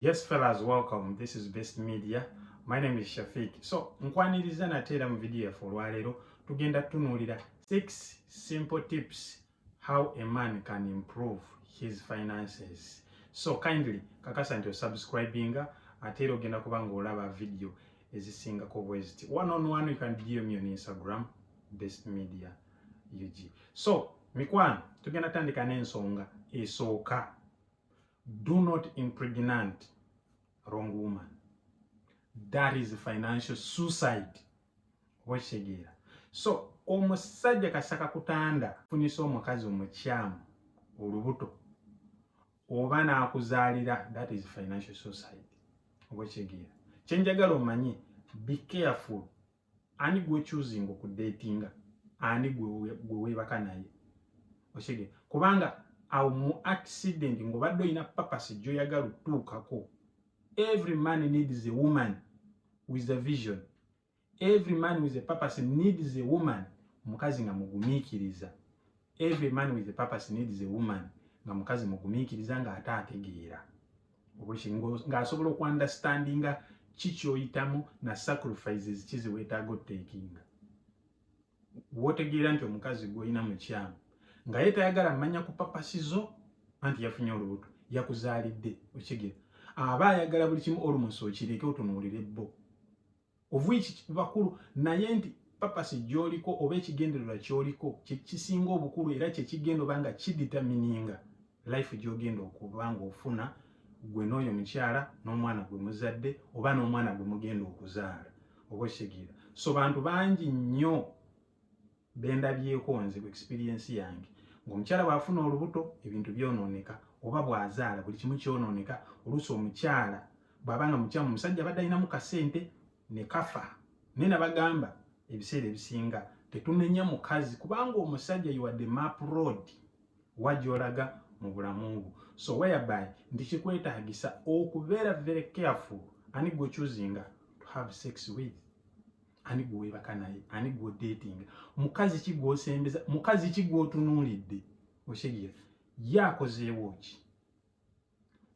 Yes fellas, welcome. This is Best Media. My name is Shafiq. So, nkwaniriza nate era mu video yaffe olwaleero tugenda tunuulira 6 simple tips how a man can improve his finances. So kindly kakasa nti osubscribinga ate era ogenda kuba ng'olaba video ezisingako bweziti. One on one you can DM me on Instagram Best Media UG. So, mikwano tugenda tandika n'ensonga esooka do not impregnant wrong woman that is financial suicide okitegeera so omusajja kasaka kutanda funisa omukazi omukyamu olubuto oba nakuzaalira that is financial suicide okitegeera kyenjagala omanye be careful ani gwe choosing ku datinga ani gwe gwe webaka naye oshege kubanga awo mu accident ngo baddo ina purpose jo yagalu tukako every man needs a woman with a vision every man with a purpose needs a woman mukazi nga mugumikiriza every man with a purpose needs a woman nga mukazi mugumikiriza nga ata ategeera obuki ng'asobola okuandastandinga ki kyoyitamu na sacrifices kizi wetaaga otekinga wotegeera nti omukazi gwolina mukyamu nga ye tayagala manya ku papasizo anti yafunye olubuto yakuzaalidde okigera aba ayagala buli kimu olumusi okireke otunuulire bbo of which bakulu naye nti papasi gyoliko oba ekigendererwa kyoliko kyekisinga obukulu era kyekigenda oba nga kiditamininga life gyogenda okuba nga ofuna gwe n'oyo mukyala n'omwana gwe muzadde oba n'omwana gwe mugenda okuzaala oba okitegeera so bantu bangi nnyo bendabyeko nze ku experience yange ng'omukyala bw'afuna olubuto ebintu byonooneka oba bw'azaala buli kimu kyonooneka oluusi omukyala bw'aba nga mukyamu omusajja abadde alinamu kasente ne kafa naye nabagamba ebiseera ebisinga tetunenya mukazi kubanga omusajja yiwadde map road wa gy'olaga mu bulamu bwo so whereby nti kikwetaagisa okubeera very careful ani gwe choosing to have sex with ani gwewebaka naye ani gwodating mukazi ki gwosembeza mukazi ki gwotunuulidde okitegera ye akozeewo ki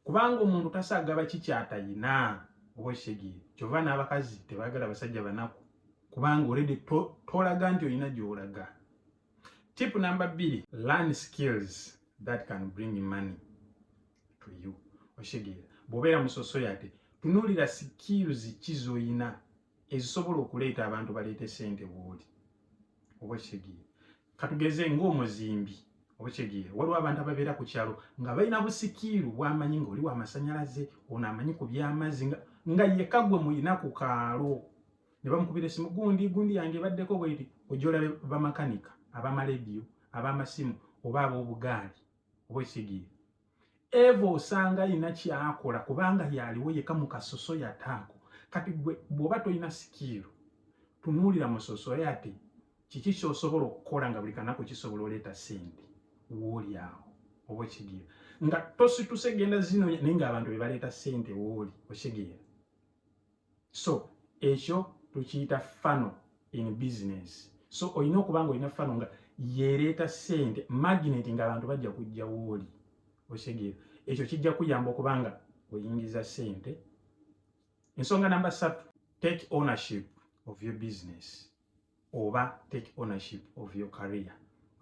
kubanga omuntu tasaagaba ki kyatayina oba okitegere kyova n'abakazi tebagala basajja banaku kubanga olede tolaga nti olina gyolaga tip namba bbiri learn skills that can bring money to you okitegera bwobeera musosoyate tunuulira skills ki zoyina ezisobola okuleeta abantu baleete sente wooli oba kitegeera katugeze ngaomuzimbi oba kitegeera waliwo abantu ababeera ku kyalo nga balina busikiiru bwamanyi nga oli wamasanyalaze ono amanyi ku byamazzi nga yeka gwe mulina ku kaalo ne bamukubira esimu gundi gundi yange ebaddeko bweri ojolabe bamakanika abamalediyo abamasimu oba abobugaali oba kitegeera eva osanga alina kyakola kubanga yaliwo yeka mukasoso yataako kati gwe bwoba tolina sikiiro tunuulira musoso yati kiki kyosobola okukola nga buli kanaku kisobola oleeta sente wooli awo oba okigeera nga tosituse genda zino naye nga abantu bebaleeta sente wooli okigeera so ekyo tukiyita fano in business so olina okuba nga olina fano nga yereeta sente magnet nga abantu bajja kujja wooli osegeera ekyo kijja kuyamba okuba nga oyingiza sente ensonga namba satu take ownership of your business oba take ownership of your career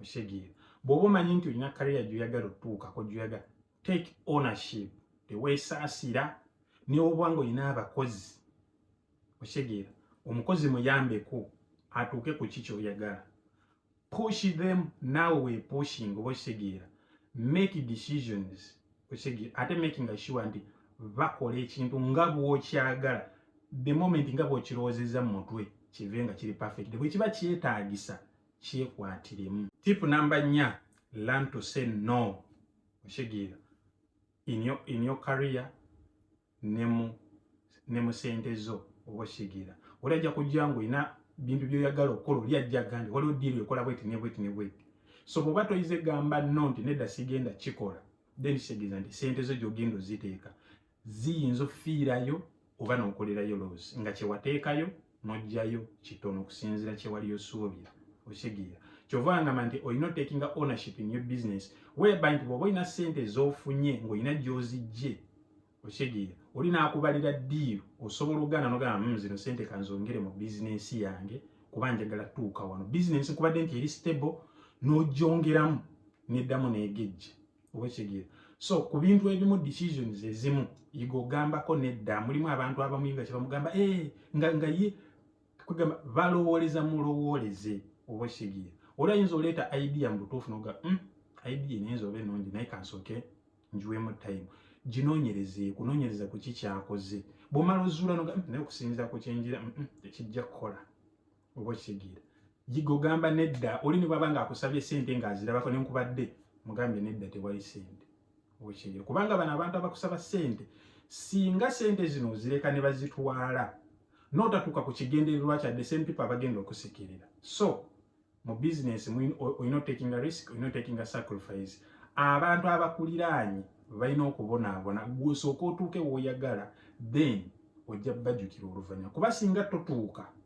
osegeera bw'oba omanyi nti olina kariya gyoyagala otuukako gyoyagala take ownership teweesaasira newoba nga olina abakozi okitegeera omukozi muyambeko atuuke ku ki kyoyagala push them naawe wepushing oba okitegeera make decisions okitegeera ate making sure nti bakola ekintu nga bwokyagala the moment nga bwokirowoozezza mu mutwe kive nga kiri perfect bwe kiba kyetaagisa kyekwatiremu tip namba nnya learn to say no okitegeera in your, in your career ne mu ne mu sente zo oba okitegeera oli ajja kujja nga olina bintu byoyagala okukola oli ajja agambye waliwo diiru ekola bweti ne bweti ne bweti so bwoba toyize gamba no nti nedda sigenda kikola then kitegeeza nti sente zo gyogenda oziteeka ziyinza ofiirayo oba n'okolerayo loozi nga kyewateekayo n'oggyayo kitono okusinziira kyewali osuubira okitegeera kyova ngamba nti olina otekinga ownership in your business whereby nti bwoba olina sente ezofunye ng'olina gyozijje okitegeera oli n'akubalira diiru osobola okugana nogamba mu hmm, zino sente kanzongere mu bizinensi yange kuba njagala tuuka wano bizinensi kubadde nti eri stable n'ogyongeramu n'eddamu n'egejja obwekitegere so ku bintu ebimu decisions ezimu yiga ogambako nedda mulimu abantu abamu nga kyebamugamba e eh, nga nga ye kugamba balowooleza mulowooleze obwekitegere oli ayinza oleeta idea mu butuufu noga mm, idea nayinza oba enungi naye kansooke njiwemu time ginonyereze kunonyereza ku kikyakoze bwomala ozuula noga mm, naye okusinzira ku kyenjira mm, mm, tekijja kukola oba okitegeera yiga ogamba nedda oli ne bwaba ng'akusabye ssente ng'azirabako ne nkubadde mugambye nedda tewali ssente oba okitegeera kubanga bano abantu abakusaba ssente singa ssente zino ozireka ne bazitwala n'otatuuka ku kigendererwa kyadde same people abagenda okusekerera so mu business olina otakinga risk olina otakinga sacrifice abantu abakuliraanye balina okubonaabona gwosooka otuuke wooyagala then ojja bajukira oluvanyuma kuba singa totuuka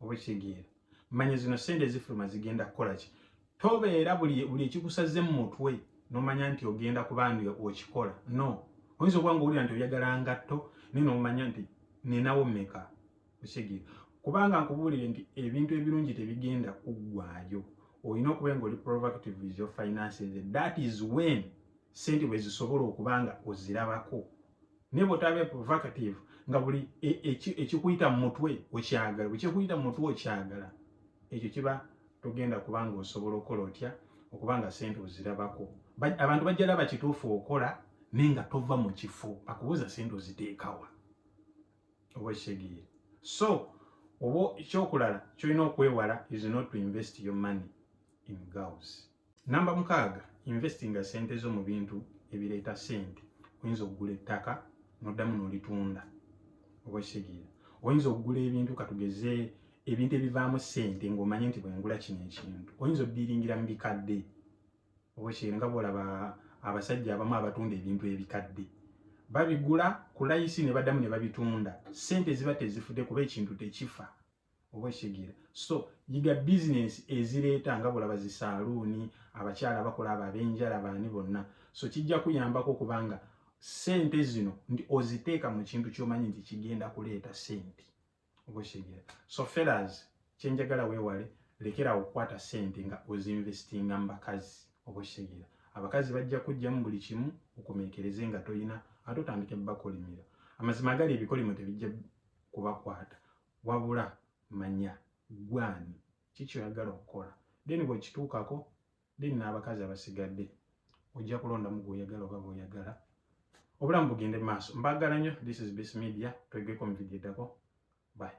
oba ekitegeera manya zino sente ezifuluma zigenda kukola ki tobeera buli buli ekikusaze mu mutwe nomanya nti ogenda kuba nti okikola no oyinza okuba nga owulira nti oyagala ngatto naye nomanya nti ninawo meka ekitegeera kubanga nkubuulire nti ebintu ebirungi tebigenda kuggwayo olina okuba nga oli proactive with your finances that is when sente bwe zisobola okuba nga ozirabako naye bwotaba provocative nga buli e, e, ekikuyita mu mutwe okyagala bwekyekuyita mu mutwe okyagala ekyo kiba togenda kubanga osobola okukola otya okubanga sente ozirabako abantu bajja laba kituufu okola naye nga tova mu kifo akubuuza sente oziteekawa oba ekitegeere so oba ekyokulala kyolina okwewala is not to invest your money in girls Namba mukaaga, investinga sente zo mu bintu ebireeta sente. Oyinza okugula ettaka noddamu nolitunda oba ekitegeera. Oyinza okugula ebintu katugeze ebintu ebivaamu sente ng'omanye nti bwengula kino ekintu. Oyinza oddiiringira mu bikadde oba ekitegeera nga bwolaba abasajja abamu abatunda ebintu ebikadde babigula ku layisi ne baddamu ne babitunda. Sente ziba tezifudde kuba ekintu tekifa. oba ekitegeera so yiga bizinensi ezireeta nga bwolaba zi saaluuni abakyala bakola abo ab'enjala baani bonna so kijja kuyambako okubanga ssente zino nti oziteeka mu kintu ky'omanyi nti kigenda kuleeta ssente oba ekitegeera so felas kyenjagala weewale lekera okukwata ssente nga ozinvestinga mu bakazi oba ekitegeera abakazi bajja kujjamu buli kimu okomekereze nga tolina ate otandike bakolimira amazima agali ebikolimo tebijja kubakwata wabula manya gwe ani ki kyoyagala okukola then bwekituukako then n'abakazi abasigadde ojja kulondamu gwoyagala oba bwoyagala obulamu bugende mu maaso mbagala nnyo this is best media twegeko mu vidiyo eddako bye